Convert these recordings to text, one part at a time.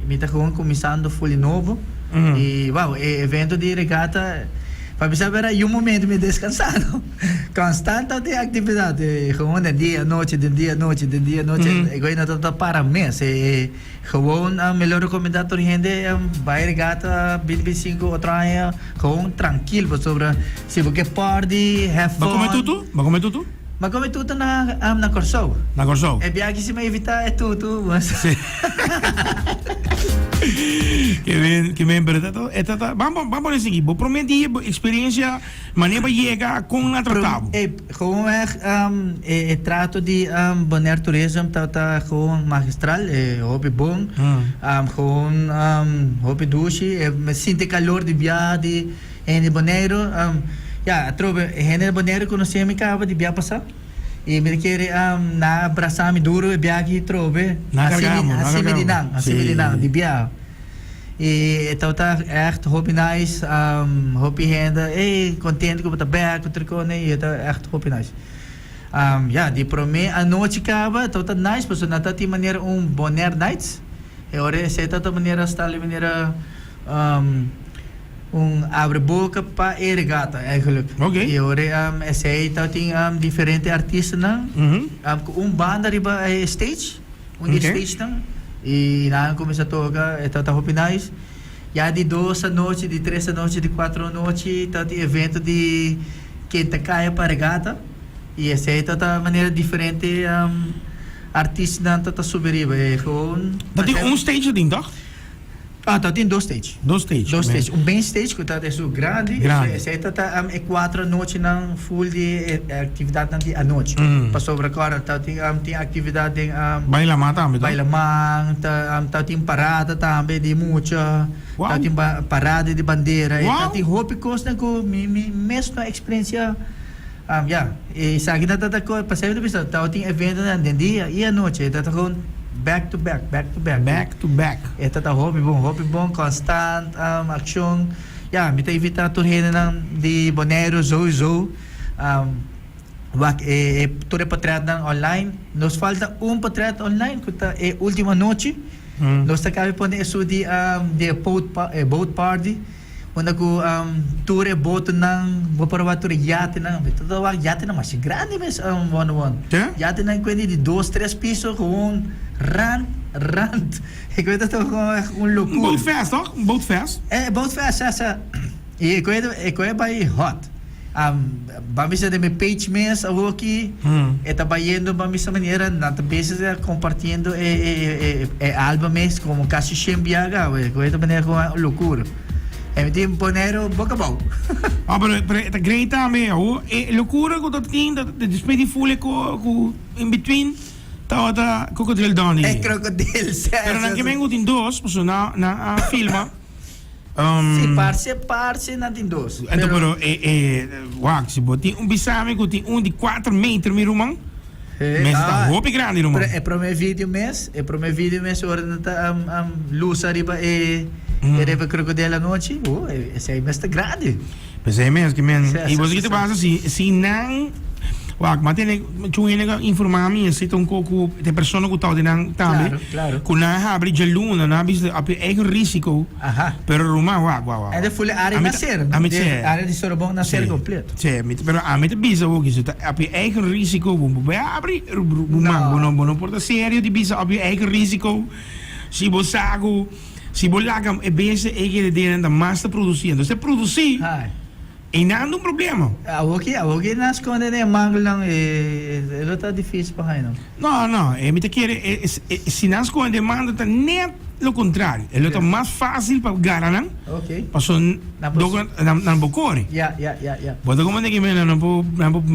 Mi ta gewoon cuminsando fuli nobo y wao e evento di regata pa mi sa wera yu momento mi descansando constanta tin actividad e gewoon den dia anochi den dia anochi den dia anochi e goe no ta ta para mes e gewoon mi lo recomenda tur hende bay regata binti binti sinku otro aña gewoon trankil pasobra si bo ke por di hef fun. Ba come tutu? Ma con e tutu na na Corsou? Na Corsou. E biachi si me invita e tutu was. Ke men ke men pero tato e tata bam bam bam pone sigi bo prome di bo experiencia mane pa yega con na tratabo. E gewoon weg um e e trato di um Bonaire Tourism ta ta gewoon magistral e hopi bon um gewoon um hopi dushi e me sinti calor di biaha di E hende di Boneiru, ya, atrobe e hende di Boneiru konosé mi kaba di bia pasá i mi ta kere nan a brasá mi duru e bia aki atrobe. Nan a kargá mi, nan a kargá mi. Hasi mi di nan, hasi mi di nan, di bia. I e tabata ègt hopi nice, hopi hende ey kontentu ku bo ta bèk ku Tricone i e ta ègt hopi nice. Ya, di promé anochi kaba tabata nice pasobra nan ta tin manera un Bonaire nights, e ora esei tabata manera hasta li manera. Un abre boca pa e regata eigenlijk. Oké. Y ora esey ta tin diferente artistanan cu un banda riba e stage, un di e stagenan. Y nan a cuminsa toca, e ta ta hopi nice. Ya di dos anochi, di tres anochi, di cuatro anochi ta tin evento di ken ta caya pa regata. Y esey ta ta manera diferente artistanan ta ta subi riba. Gewoon. Ta tin un stage aden toch? Ah ta tin dos stage. Dos stage. Dos stage. Un main stage ku ta den su grandi. Grandi. Esei ta ta e kuatro anochinan full di e aktividatnan di anochi. Pasobra kòrdate ta tin tin aktividat den. Bailamá tambe ta. Bailamá, ta tin parada tambe di mucha. Wou. Ta tin parada di bandera. Wou. E ta tin hopi kosnan ku mi mi mes no eksperensia. Mira, esaki ta ta kos, pa sènter bisa tawba tin eventonan den dia i anochi. E ta ta gewoon back to back, back to back. Back to back. E ta ta hopi bon, hopi bon, konstant akshon. Ya, mi ta invitá tur hendenan di Boneiru souizou wak e tur e potrètnan online. Nos falta un potrèt online ku ta e último anochi. Nos ta kap'e pone esu di di e boat party. unda cu tur e botonan bo por wak tur e yatenan be ta wak yatenan masha grandi mes Wonder Won Te? yatenan kuendi di dos tres piso gewoon rant rant e koe ta ta gewoon echt un locuur Boat fest, toch? Boat fest. eh boat fest sa sa y e koe e koe bay hot Am ba bisa den mi page mes awoki e ta bayendo pa misa manera nan ta bezig den compartiendo e e e e album mes como casi shen biaga awe cu esta manera cu a locuur e mi tin Bonero bo cabao Ah pero pero e ta great tambe awo e locura cu ta tin ta despues di full e co cu in between tabata Crocodile Dundee e crocodile pero nan ke men cu tin dos pasobra nan a filma. Si, parce parce nan tin dos. Anto pero e e wak si bo tin un bisami ku tin un di kuater meter mi ruman. Mes ta hopi grandi ruman. Pero e prome video mes, e prome video mes ora nan ta am am lusa riba e e riba krokodel anochi, oh esei mes ta grandi. P'esei mes ki men i boso kita basa si si nan wak m'a tene chun hende a informá mi esei ta un poco ta e persona ku tau di nan tambe ku nan a habri djaluna nan a bisa a p'e eigen risiko pero Ruma wak wak wak ende fuli área naser no ami ta área di Sorobon naser kompleto si ami ta pero ami ta bisa bo ki su ta a p'e eigen risiko bo bo habri Ruma bo no bo no por ta serio di bisa a p'e eigen risiko si bo sa ku. Si bo laga e bese ey kere dena ta mas ta produci. Entos e produci ey nan ta un problema. Awor ki awor ki nan sconde den e manglnan e e lo ta dificil pa haña no. No no e mi ta kere e e si nan sconde den e manglan ta net lo contrario e lo ta mas facil pa gara nan paso nan nan por core. Bo ta comprende ki men nan nan por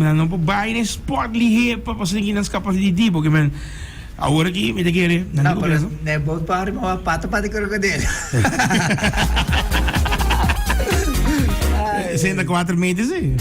nan por bay den sport lihe pa paso tin ki nan scapa di di porque men. Awor aki mi ta kere nan di konfiansa. Na e boat party mi wak pata pata krokodil. Senta kuater meter si.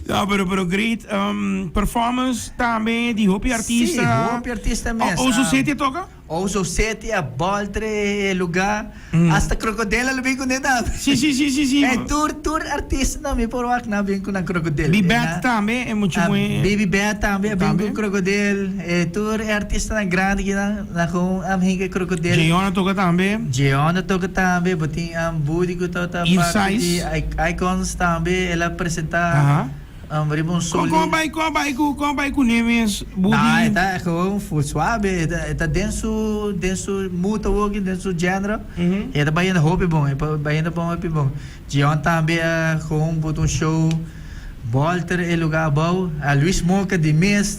No, pero, pero great um, performance tambe di hopi artista. Si, hopi artista mes. O, o su seti toka? Ou so seti a boltre e luga. Hasta krokodel a lo bin ku ne tambe. Sí, sí, sí, sí, sí. Ey, tur, tur artistanan mi por wak nan a bin ku nan krokodel. Bi Bad Ena, tambe, e muchu a, moe. Bibi Bad tambe a bin Tambe. ku krokodel. E tur e artistanan grandi kinan nan kon am hinga e krokodel. Jeon a toka tambe. Jeon a toka tambe. Bo tin am Budi ku ta ta Eve parte di Size. I- Icons tambe. El a presenta. Aha. Hombre bon soli. Kon kon bai kon bai ku kon bai kuné mes budi. Nah e ta gewoon full suabe e ta e ta den su den su muta woki den su genro e ta bayendo hopi bon e ta bayendo bon hopi bon Gion tambe a gewoon but un show Bolter e luga abou a Luis Moca di mes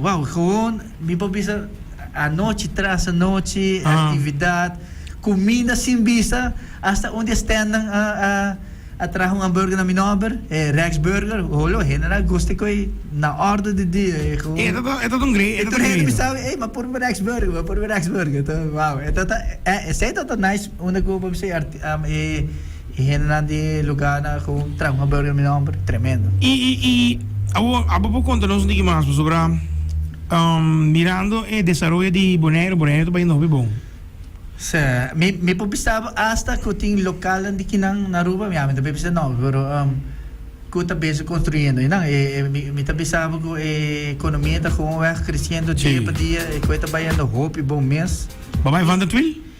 Wow gewoon mi por bisa anochi tras anochi actividad cuminda sin bisa hasta un di e standnan a traha un hamburger na mi nomber e Rex Burger holo hende nan a gusta cu e na ordo di dia e gewoon e ta ta un gredo e tur hende mi sa ey m'a purba Rex Burger m'a purba Rex Burger wow esey ta ta nice unda cu mi por bisa e E hendenan di e lugarnan a geu traha un habeur den mi nomber tremendo. Y y y awor abo por conta nos un tiki mas pasobra mirando e desaroyo di Bonaire, Bonaire ta bay nobi bon. Sè, mi mi por bisa bo hasta cu tin localnan di kinan na Aruba, mi ami ta bay bisa nobi, pero cu ta bezig construyendo enan. E e mi mi ta bisa bo cu e economia ta gewoon weg creciendo dia pa dia, e coe ta bayendo hopi bon mes. Babay Van der Thuil?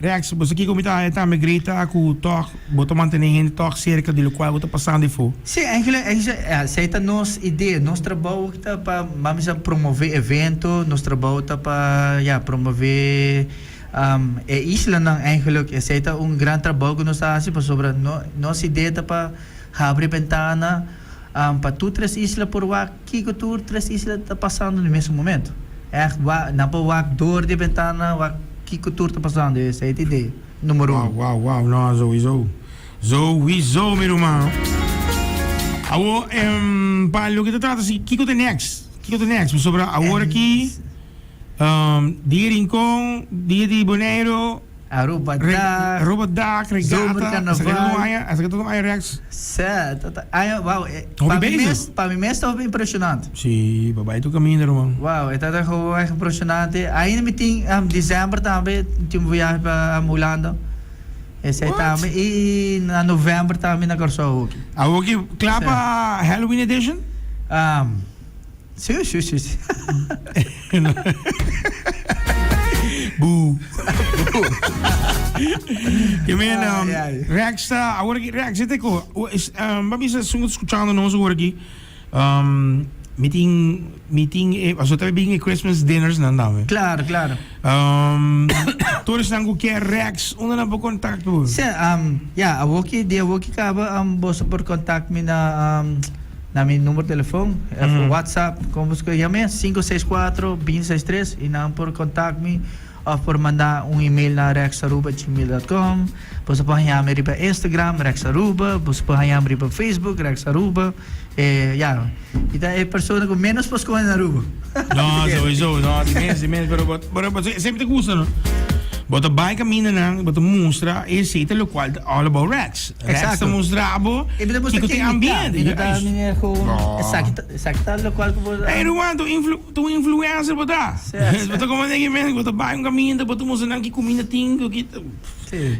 Rex, bo sa kiko mi ta haña tambe, grita aku tòg, bo ta mantené hende tòg serka di lokual bo ta pasando di fo. Sí, Angela, esei ta nos idea. Nos trabou aki ta pa, mami sa, promové evento, nos trabou ta pa, ya, promové e islanan eingelik. Esei ta un gran trabou ku nos ta hasi, pasobra nos idea ta pa habri bentana. pa tur tres isla por wak kiko tur tres isla ta pasando na mesun momento. Echt wa nan por wak dor di e bentana wak kiko tur ta pasando esei ta idea numero uno. Wow wow wow no zoizo zoizo mi ruman. Awo pa loke ta trata si kiko ta next kiko ta next pasobra awor aki. Dia Rincon, dia di Boneiru, Aruba dag, Aruba dag, Regata, Zomer Carnaval, esa keda un aña, esa keda un aña reeks. Sè, ta ta aña, wow, e Hopi pa mi bezig. mes, pa mi mes ta hopi impresionante. Si, pa bai tur kaminda ruman. Wow, e ta ta hopi erg impresionante. Ainda mi tin, am, december tambe, mi tin un viahe pa, am, Hulanda. Esei What? tambe, i na november tambe mi na Kòrsou hoki. Awoki kla Sè. pa Halloween edition? Am. Shu shu shu Yo mira, Rexta, awor aki Rexta te ko. Ba bisa esun ku ta skuchando nos awor aki. Mi tin, mi tin e, paso ta bin e Christmas dinners nan dame. Claro, claro. Tur esnan ku kier Rex, unda nan por kontak bo? Se, ya, awor ki, di awor ki kaba, boso por kontak mi na. Na mi numero telefon of WhatsApp con bo scor yam'e sinku seis kuater binti seis tres y nan por contact mi of por manda un email na rexaruba gmail dot com. Boso por haña mi riba Instagram rexaruba, boso por hañam riba Facebook rexaruba e ya mi ta e persona cu menos por scoge na Aruba. No, sowiso, no, di mes, di mes, pero bot, pero bot, sempre te gusta, no? Bot ta bai camina nan, bot ta mustra e sete lo cual ta all about rats. Rex ta mustra bo kiko tin ambiente. Ey Ruan, ta un influencer bo ta. Bo ta como neki mes, bo ta bay un caminda, bo ta mustra nan ki cuminda tin,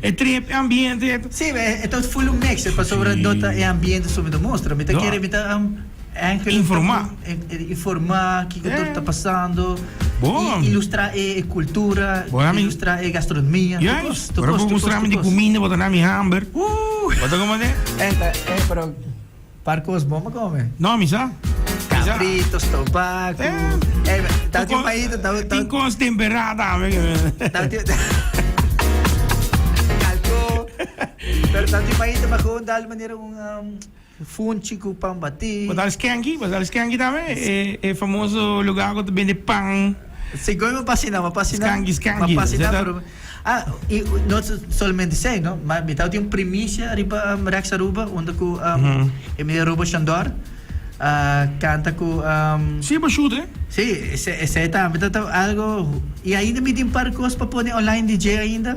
e trip, e ambiente. Si, e ta full un mix, pasobra do ta e ambiente su mi ta mustra. Mi ta kere, mi ta. Informa. Informa kiko tur ta pasando. Bon. I ilustra e e kultura. Bo nami. Ilustra e gastronomia. Ja es. Ora bo mustra mi di kuminda bo ta nami hamber. Ooh. Bo ta kome de? Eta e pero par kos bon pa kome. No mi sa. Cabrito, stobaku. Eh. Tati un paita ta. Tin kos tempera tame. Tati. Kalko. Pero tati un paita pa gewoon dal manera un. Funchi ku pan batí. Bo ta Skanky, bo ta Skanky tambe, e famoso lugar ku ta bende pan. Sí, koe m'a pasina, m'a pasina. Skanky, Skanky. M'a pasina pero ah, i no solamente esei no, ma mi tawata tin un primisia riba Rex Aruba unda ku e meneer Robo Shandor a kanta ku. Sí, bo shut, hè? Sí, esei tambe ta algo i ainda mi tin par kos pa pone online DJ ainda.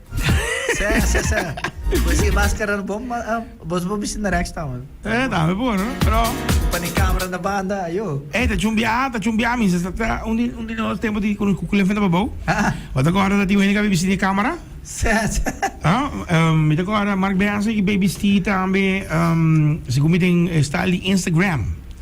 Seh, seh, seh. Pues si maskara no bon, ma- ah, bos bo bisti na rekstaan, man. Eh, dame por, no? Pero, Pan i camera na banda, ayo. eh, ta chumbiá, ta chumbiá, mi. Sa- sa- ta un di, un di nos tempo di cu- cu- cu lefanta pa bou. Ah, ah. Bo ta corda tin wende cabe bisti di camera? Seh, seh. No? Ehm, mi ta corda Marc Beyance cu bay bisti tambe, ehm, si cu mi tin e style di Instagram.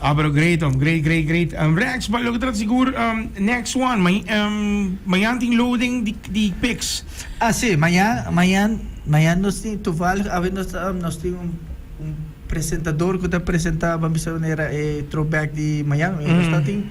Abra great om great great great Rex but loke trata sigur next one mañan tin loading di pics. Ah si mañan mañan mañan nos tin toevallig awe nos nos tin un un presentador cu ta presenta ban bisa manera e throwback di mañan nos ta tin.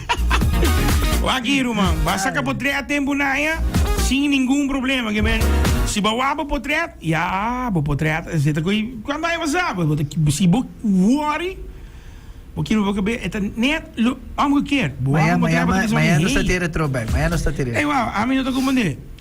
Waki ruman, ba saka potret den bunaya sin ningun problema, ke men si ba wak bo potret, ya bo potret a seta ku e kwan bai basa, si bo wori bo kil bo be e ta net lo omgekeerd, bo wak bo potret bo ta bisa, hei, ey wou, ami no ta kompondé.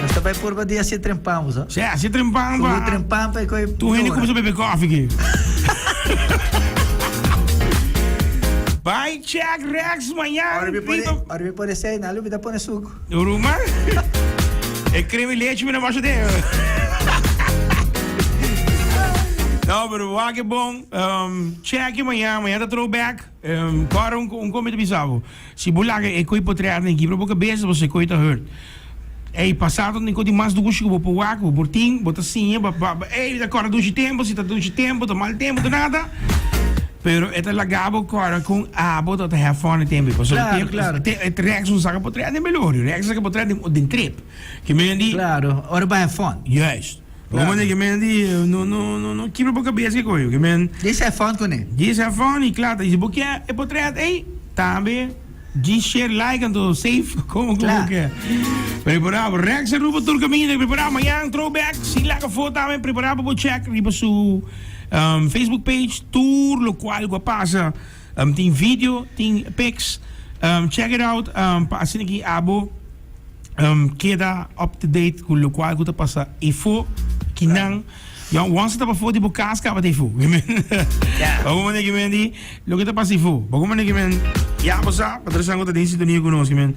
Nos ta bai purba di hasi trempan bo sa. Sí, hasi trempan pa. Tur trempan pa koi. Tur hende cuminsa bebe koffie ki. Bai check Rex mañana. Ora mi pone, ora mi pone sei, na lubida pone suco. Ruma. e creme leche mi na washa de. No, pero wak bon. Um, check mañana, mañana throwback. Kòrda un kon mi ta bisa bo, si bo laga e koi potrea den kibra bo kabesa, bo sekoe ta hurt. Ey, pasado tin kon di mas dushi ku bo por wak, bo por tin, bo ta siña, bo ta ba, ey, ta kòrda dushi tempu, si ta dushi tempu, ta mal tempu, ta nada, pero e ta laga bo kòrda kon abo ta ta hèf fòn e tempu ei, pasobra e tempu, Klaro, klaro. rèks no saka potrea den belorio, rèks a saka potrea den trip, ke men a di, Klaro, ora bo hèf fòn. Juist. Bo manda ki men di no kibra bo kabes ki koyo ki men di se fon kune di se fon y kla ta y si bo ke e potret ey tambe di sher like anto sef komo ku bo ke prepara bo Rex Aruba tur kaminda e prepara mañan trow bek si laga fo tambe prepara pa bo chek riba su Facebook page tur lokual ku a pasa. Um tin video tin pics um check it out um pa asina ki abo um keda up to date cu locual cu ta pasa efo ki nan ya once ta bafo di bo cas caba ta efo ki men yeah. pa cu mane ki men di loke ta pasa efo pa cu mane ki men ya bo sa pa trasan cu ta den sintonia cu nos ki men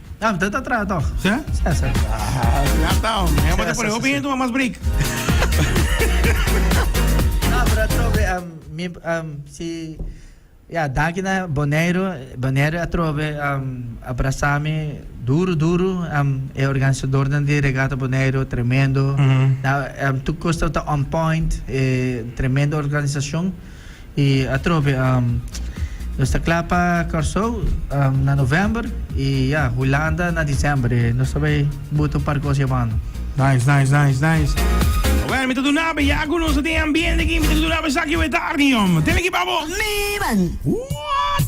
Dam, te ta traha toch? Sê? Sê, sê. Ja ta, hombre. Ja, bote por hopi gente toma mas break. No, pero atrobe, um, mi, um, si... Ja, danki na Bonaire. Bonaire atrobe um, abrazami duro, duro. Um, e organisador dan di regata Bonaire, tremendo. Mm -hmm. Na, um, tu kosta ta on point. E, tremendo organisacion. y atrobe nos ta cla pa Corsou na november y ya Hulanda na december y nos ta bay buta un par cos yamando. Nice, nice, nice, nice. Oké, mi ta duna be ya ku nos tin ambiente ki mi ta duna be saki we tardi om. Tene ki babo. Miran. What?